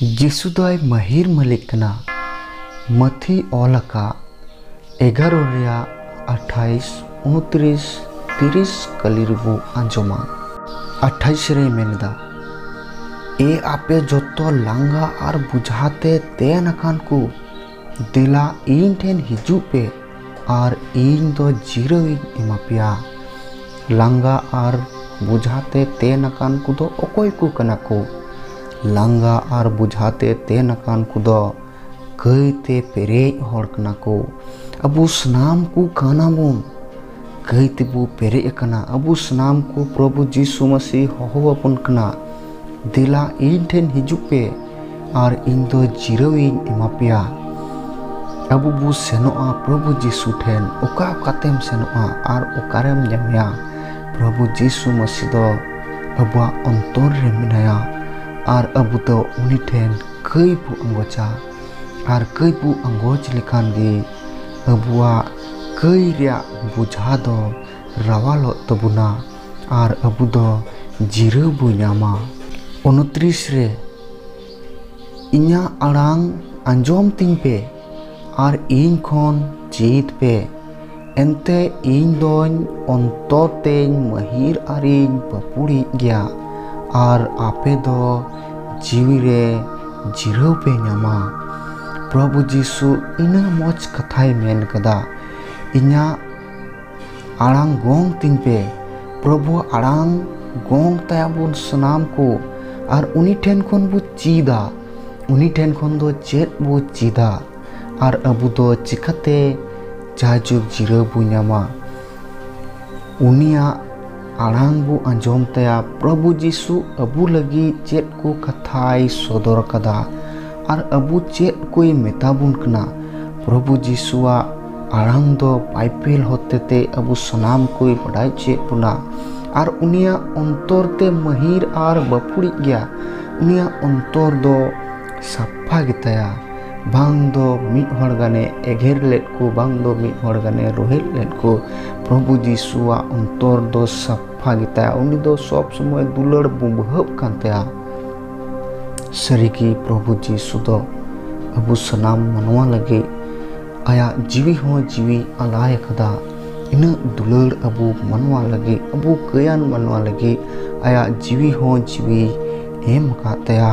ᱡᱤᱥᱩ ᱫᱚᱭ ᱢᱟᱹᱦᱤᱨ ᱢᱟᱹᱞᱤᱠ ᱠᱟᱱᱟ᱾ ᱢᱟᱹᱛᱷᱤᱭ ᱚᱞ ᱟᱠᱟᱫ ᱮᱜᱟᱨᱚ ᱨᱮᱭᱟᱜ ᱟᱴᱷᱟᱭᱤᱥ, ᱩᱱᱩᱛᱨᱤᱥ, ᱛᱤᱨᱤᱥ ᱠᱟᱹᱞᱤ ᱨᱮᱵᱚ ᱟᱸᱡᱚᱢᱟ᱾ ᱟᱴᱷᱟᱭᱤᱥ ᱨᱮᱭ ᱢᱮᱱ ᱮᱫᱟ, ᱮ ᱟᱯᱮ ᱡᱚᱛᱚ ᱞᱟᱸᱜᱟ ᱟᱨ ᱵᱩᱡᱷᱟ ᱛᱮ ᱛᱮᱱ ᱟᱠᱟᱱ ᱠᱚ᱾ ᱫᱮᱞᱟ ᱤᱧ ᱴᱷᱮᱱ ᱦᱤᱡᱩᱜ ᱯᱮ ᱟᱨ ᱤᱧ ᱫᱚ ᱡᱤᱨᱟᱹᱣ ᱤᱧ ᱮᱢᱟ ᱯᱮᱭᱟ ᱞᱟᱸᱜᱟ ᱟᱨ ᱵᱚᱡᱷᱟ ᱛᱮ ᱛᱮᱱ ᱟᱠᱟᱱ ᱠᱚᱫᱚ ᱚᱠᱚᱭ ᱠᱚ ᱠᱟᱱᱟ ᱠᱚ ᱞᱟᱸᱜᱟ ᱟᱨ ᱵᱚᱡᱷᱟ ᱛᱮ ᱛᱮᱱ ᱟᱠᱟᱱ ᱠᱚᱫᱚ ᱠᱟᱹᱭ ᱛᱮ ᱯᱮᱨᱮᱡ ᱦᱚᱲ ᱠᱟᱱᱟ ᱠᱚ ᱟᱵᱚ ᱥᱟᱱᱟᱢ ᱠᱚ ᱠᱟᱱᱟ ᱵᱚᱱ ᱠᱟᱹᱭ ᱛᱮᱵᱚ ᱯᱮᱨᱮᱡ ᱟᱠᱟᱱᱟ ᱟᱵᱚ ᱥᱟᱱᱟᱢ ᱠᱚ ᱯᱨᱚᱵᱷᱩ ᱡᱤᱥᱩ ᱢᱟᱹᱥᱤ ᱦᱚᱦᱚ ᱟᱵᱚᱱ ᱠᱟᱱᱟ ᱫᱮᱞᱟ ᱤᱧ ᱴᱷᱮᱱ ᱦᱤᱡᱩᱜ ᱯᱮ ᱟᱨ ᱤᱧ ᱫᱚ ᱡᱤᱨᱟᱹᱣ ᱤᱧ ᱮᱢᱟ ᱯᱮᱭᱟ ᱟᱵᱚ ᱵᱚ ᱥᱮᱱᱚᱜᱼᱟ ᱯᱨᱚᱵᱷᱩ ᱡᱤᱥᱩ ᱴᱷᱮᱱ ᱚᱠᱟ ᱚᱠᱟᱛᱮᱢ ᱥᱮᱱᱚᱜᱼᱟ ᱟᱨ ᱚᱠᱟᱨᱮᱢ ᱧᱟᱢᱮᱭᱟ ᱯᱨᱚᱵᱷᱩ ᱡᱤᱥᱩ ᱢᱟᱹᱥᱤ ᱫᱚ ᱟᱵᱚᱣᱟᱜ ᱚᱱᱛᱚᱨ ᱨᱮ ᱢᱮᱱᱟᱭᱟ ᱟᱨ ᱟᱵᱚ ᱫᱚ ᱩᱱᱤ ᱴᱷᱮᱱ ᱠᱟᱹᱭ ᱵᱚ ᱟᱸᱜᱚᱪᱟ ᱟᱨ ᱠᱟᱹᱭ ᱵᱚ ᱟᱸᱜᱚᱪ ᱞᱮᱠᱷᱟᱱ ᱜᱮ ᱟᱵᱚᱣᱟᱜ ᱠᱟᱹᱭ ᱨᱮᱭᱟᱜ ᱵᱚᱡᱷᱟ ᱫᱚ ᱨᱟᱣᱟᱞᱚᱜ ᱛᱟᱵᱚᱱᱟ ᱟᱨ ᱟᱵᱚ ᱫᱚ ᱡᱤᱨᱟᱹᱣ ᱵᱚ ᱧᱟᱢᱟ᱾ ᱩᱱᱛᱨᱤᱥ ᱨᱮ, ᱤᱧᱟᱜ ᱟᱲᱟᱝ ᱟᱸᱡᱚᱢ ᱛᱤᱧ ᱯᱮ ᱟᱨ ᱤᱧ ᱠᱷᱚᱱ ᱪᱮᱫ ᱯᱮ, ᱮᱱᱛᱮ ᱤᱧ ᱫᱚᱧ ᱚᱱᱛᱚᱨ ᱛᱮᱧ ᱢᱟᱹᱦᱤᱨ ᱟᱨᱤᱧ ᱯᱟᱹᱯᱩᱲᱤᱡ ᱜᱮᱭᱟ ᱟᱨ ᱟᱯᱮ ᱫᱚ ᱡᱤᱣᱤ ᱨᱮ ᱡᱤᱨᱟᱹᱣ ᱯᱮ ᱧᱟᱢᱟ ᱯᱨᱚᱵᱷᱩ ᱡᱤᱥᱩ ᱤᱱᱟᱹ ᱢᱚᱡᱽ ᱠᱟᱛᱷᱟᱭ ᱢᱮᱱ ᱠᱟᱫᱟ ᱤᱧᱟᱹᱜ ᱟᱲᱟᱝ ᱜᱚᱝ ᱛᱤᱧ ᱯᱮ ᱯᱨᱚᱵᱷᱩ ᱟᱲᱟᱝ ᱜᱚᱝ ᱛᱟᱭᱟᱵᱚᱱ ᱥᱟᱱᱟᱢ ᱠᱚ ᱟᱨ ᱩᱱᱤ ᱴᱷᱮᱱ ᱠᱷᱚᱱ ᱵᱚ ᱪᱮᱫᱟ ᱩᱱᱤ ᱴᱷᱮᱱ ᱠᱷᱚᱱ ᱫᱚ ᱪᱮᱫ ᱵᱚ ᱪᱮᱫᱟ ᱟᱨ ᱟᱵᱚ ᱫᱚ ᱪᱤᱠᱟᱛᱮ ᱡᱟᱭᱡᱩᱜᱽ ᱡᱤᱨᱟᱹᱣ ᱵᱚ ᱧᱟᱢᱟ ᱩᱱᱤᱭᱟᱜ ᱟᱲᱟᱝ ᱵᱚ ᱟᱸᱡᱚᱢ ᱛᱟᱭᱟ ᱯᱨᱚᱵᱷᱩ ᱡᱤᱥᱩ ᱟᱵᱚ ᱞᱟᱹᱜᱤᱫ ᱪᱮᱫ ᱠᱚ ᱠᱟᱛᱷᱟᱭ ᱥᱚᱫᱚᱨ ᱟᱠᱟᱫᱟ ᱟᱨ ᱟᱵᱚ ᱪᱮᱫ ᱠᱚᱭ ᱢᱮᱛᱟ ᱵᱚᱱ ᱠᱟᱱᱟ ᱯᱨᱚᱵᱷᱩ ᱡᱤᱥᱩᱣᱟᱜ ᱟᱲᱟᱝ ᱫᱚ ᱵᱟᱭᱵᱮᱞ ᱦᱚᱛᱮᱛᱮ ᱟᱵᱚ ᱥᱟᱱᱟᱢ ᱠᱚᱭ ᱵᱟᱰᱟᱭ ᱦᱚᱪᱚᱭᱮᱫ ᱵᱚᱱᱟ ᱟᱨ ᱩᱱᱤᱭᱟᱜ ᱚᱱᱛᱚᱨ ᱛᱮ ᱢᱟᱹᱦᱤᱨ ᱟᱨ ᱵᱟᱹᱯᱷᱲᱤᱡ ᱜᱮᱭᱟ ᱩᱱᱤᱭᱟᱜ ᱚᱱᱛᱚᱨ ᱫᱚ ᱥᱟᱯᱷᱟ ᱜᱮᱛᱟᱭᱟ ᱵᱟᱝ ᱫᱚ ᱢᱤᱫ ᱦᱚᱲ ᱜᱟᱱᱮ ᱮᱜᱮᱨ ᱞᱮᱫ ᱠᱚ ᱵᱟᱝ ᱫᱚ ᱢᱤᱫ ᱦᱚᱲ ᱜᱟᱱᱮ ᱨᱳᱦᱮᱫ ᱞᱮᱫ ᱠᱚ ᱯᱨᱚᱵᱷᱩ ᱡᱤᱥᱩᱣᱟᱜ ᱚᱱᱛᱚᱨ ᱫᱚ ᱥᱟᱯᱷᱟ ᱜᱮᱛᱟᱭᱟ ᱩᱱᱤ ᱫᱚ ᱥᱚᱵ ᱥᱚᱢᱚᱭ ᱫᱩᱞᱟᱹᱲ ᱵᱩᱵᱷᱟᱹᱜ ᱠᱟᱱ ᱛᱟᱭᱟ ᱥᱟᱹᱨᱤᱜᱮ ᱯᱨᱚᱵᱷᱩ ᱡᱤᱥᱩ ᱫᱚ ᱟᱵᱚ ᱥᱟᱱᱟᱢ ᱢᱟᱱᱣᱟ ᱞᱟᱹᱜᱤᱫ ᱟᱭᱟᱜ ᱡᱤᱣᱤ ᱦᱚᱸ ᱡᱤᱣᱤ ᱟᱞᱟᱭ ᱟᱠᱟᱫᱟ ᱤᱱᱟᱹᱜ ᱫᱩᱞᱟᱹᱲ ᱟᱵᱚ ᱢᱟᱱᱣᱟ ᱞᱟᱹᱜᱤᱫ ᱟᱵᱚ ᱠᱟᱹᱭᱟᱱ ᱢᱟᱱᱣᱟ ᱞᱟᱹᱜᱤᱫ ᱟᱭᱟᱜ ᱡᱤᱣᱤ ᱦᱚᱸ ᱡᱤᱣᱤ ᱮᱢ ᱟᱠᱟᱫ ᱛᱟᱭᱟ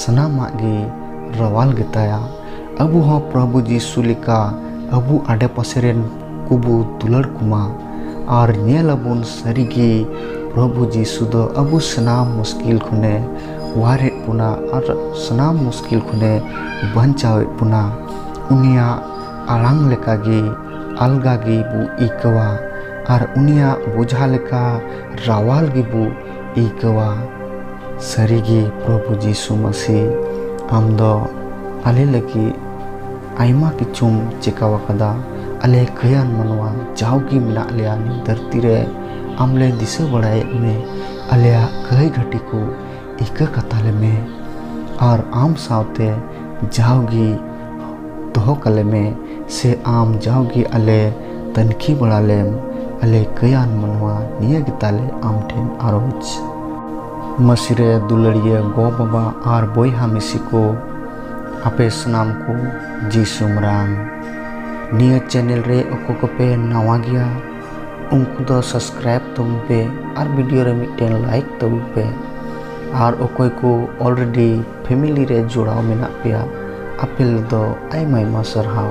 ᱥᱟᱱᱟᱢᱟᱜ ᱜᱮ ᱨᱟᱣᱟᱞ ᱜᱮᱛᱟᱭᱟ ᱟᱵᱚ ᱦᱚᱸ ᱯᱨᱚᱵᱷᱩ ᱡᱤᱥᱩ ᱞᱮᱠᱟ ᱟᱵᱚ ᱟᱰᱮ ᱯᱟᱥᱮ ᱨᱮᱱ ᱠᱚᱵᱚ ᱫᱩᱞᱟᱹᱲ ᱠᱚᱢᱟ ᱟᱨ ᱧᱮᱞ ᱟᱵᱚᱱ ᱥᱟᱹᱨᱤᱜᱮ ᱯᱨᱚᱵᱷᱩ ᱡᱤᱥᱩ ᱫᱚ ᱟᱵᱚ ᱥᱟᱱᱟᱢ ᱢᱩᱥᱠᱤᱞ ᱠᱷᱚᱱᱮ ᱚᱣᱟᱨᱮᱫ ᱵᱚᱱᱟ ᱟᱨ ᱥᱟᱱᱟᱢ ᱢᱩᱥᱠᱤᱞ ᱠᱷᱚᱱᱮ ᱵᱟᱧᱪᱟᱣᱮᱫ ᱵᱚᱱᱟ ᱩᱱᱤᱭᱟᱜ ᱟᱲᱟᱝ ᱞᱮᱠᱟᱜᱮ ᱟᱞᱜᱟ ᱜᱮᱵᱚ ᱟᱹᱭᱠᱟᱹᱣᱟ ᱟᱨ ᱩᱱᱤᱭᱟᱜ ᱵᱚᱡᱷᱟ ᱞᱮᱠᱟ ᱨᱟᱣᱟᱞ ᱜᱮᱵᱚ ᱟᱹᱭᱠᱟᱹᱣᱟ ᱥᱟᱹᱨᱤᱜᱮ ᱯᱨᱚᱵᱷᱩ ᱡᱤᱥᱩ ᱢᱟᱹᱥᱤ ᱟᱢ ᱫᱚ ᱟᱞᱮ ᱞᱟᱹᱜᱤᱫ ᱟᱭᱢᱟ ᱠᱤᱪᱷᱩᱢ ᱪᱮᱠᱟᱣ ᱟᱠᱟᱫᱟ ᱟᱞᱮ ᱠᱟᱹᱭᱟᱱ ᱢᱟᱱᱣᱟ ᱡᱟᱣᱜᱮ ᱢᱮᱱᱟᱜ ᱞᱮᱭᱟ ᱱᱤᱭᱟᱹ ᱫᱷᱟᱹᱨᱛᱤ ᱨᱮ ᱟᱢ ᱞᱮ ᱫᱤᱥᱟᱹ ᱵᱟᱲᱟᱭᱮᱫ ᱢᱮ ᱟᱞᱮᱭᱟᱜ ᱠᱟᱹᱭ ᱜᱷᱟᱹᱴᱤ ᱠᱚ ᱤᱠᱟᱹ ᱠᱟᱛᱟᱞᱮ ᱢᱮ ᱟᱨ ᱟᱢ ᱥᱟᱶᱛᱮ ᱡᱟᱣᱜᱮ ᱫᱚᱦᱚ ᱠᱟᱞᱮ ᱢᱮ ᱥᱮ ᱟᱢ ᱡᱟᱣᱜᱮ ᱟᱞᱮ ᱛᱟᱹᱱᱠᱷᱤ ᱵᱟᱲᱟ ᱞᱮᱢ ᱟᱞᱮ ᱠᱟᱹᱭᱟᱱ ᱢᱟᱱᱣᱟ ᱱᱤᱭᱟᱹ ᱜᱮ ᱛᱟᱞᱮ ᱟᱢ ᱴᱷᱮᱱ ᱟᱨᱚᱡᱽ ᱢᱟᱹᱥᱤᱨᱮ ᱫᱩᱞᱟᱹᱲᱤᱭᱟᱹ ᱜᱚ ᱵᱟᱵᱟ ᱟᱨ ᱵᱚᱭᱦᱟ ᱢᱤᱥᱤ ᱠᱚ ᱟᱯᱮ ᱥᱟᱱᱟᱢ ᱠᱚ ᱡᱤ ᱥᱩᱢᱨᱟᱝ ᱱᱤᱭᱟᱹ ᱪᱮᱱᱮᱞ ᱨᱮ ᱚᱠᱚᱭ ᱠᱚᱯᱮ ᱱᱟᱣᱟ ᱜᱮᱭᱟ ᱩᱱᱠᱩ ᱫᱚ ᱥᱟᱵᱥᱠᱨᱟᱭᱤᱵ ᱛᱟᱵᱚᱱ ᱯᱮ ᱟᱨ ᱵᱷᱤᱰᱤᱭᱳ ᱨᱮ ᱢᱤᱫᱴᱮᱱ ᱞᱟᱭᱤᱠ ᱛᱟᱵᱚᱱ ᱯᱮ ᱟᱨ ᱚᱠᱚᱭ ᱠᱚ ᱚᱞᱨᱮᱰᱤ ᱯᱷᱮᱢᱮᱞᱤ ᱨᱮ ᱡᱚᱲᱟᱣ ᱢᱮᱱᱟᱜ ᱯᱮᱭᱟ ᱟᱯᱮ ᱫᱚ ᱟᱭᱢᱟ ᱟᱭᱢᱟ ᱥᱟᱨᱦᱟᱣ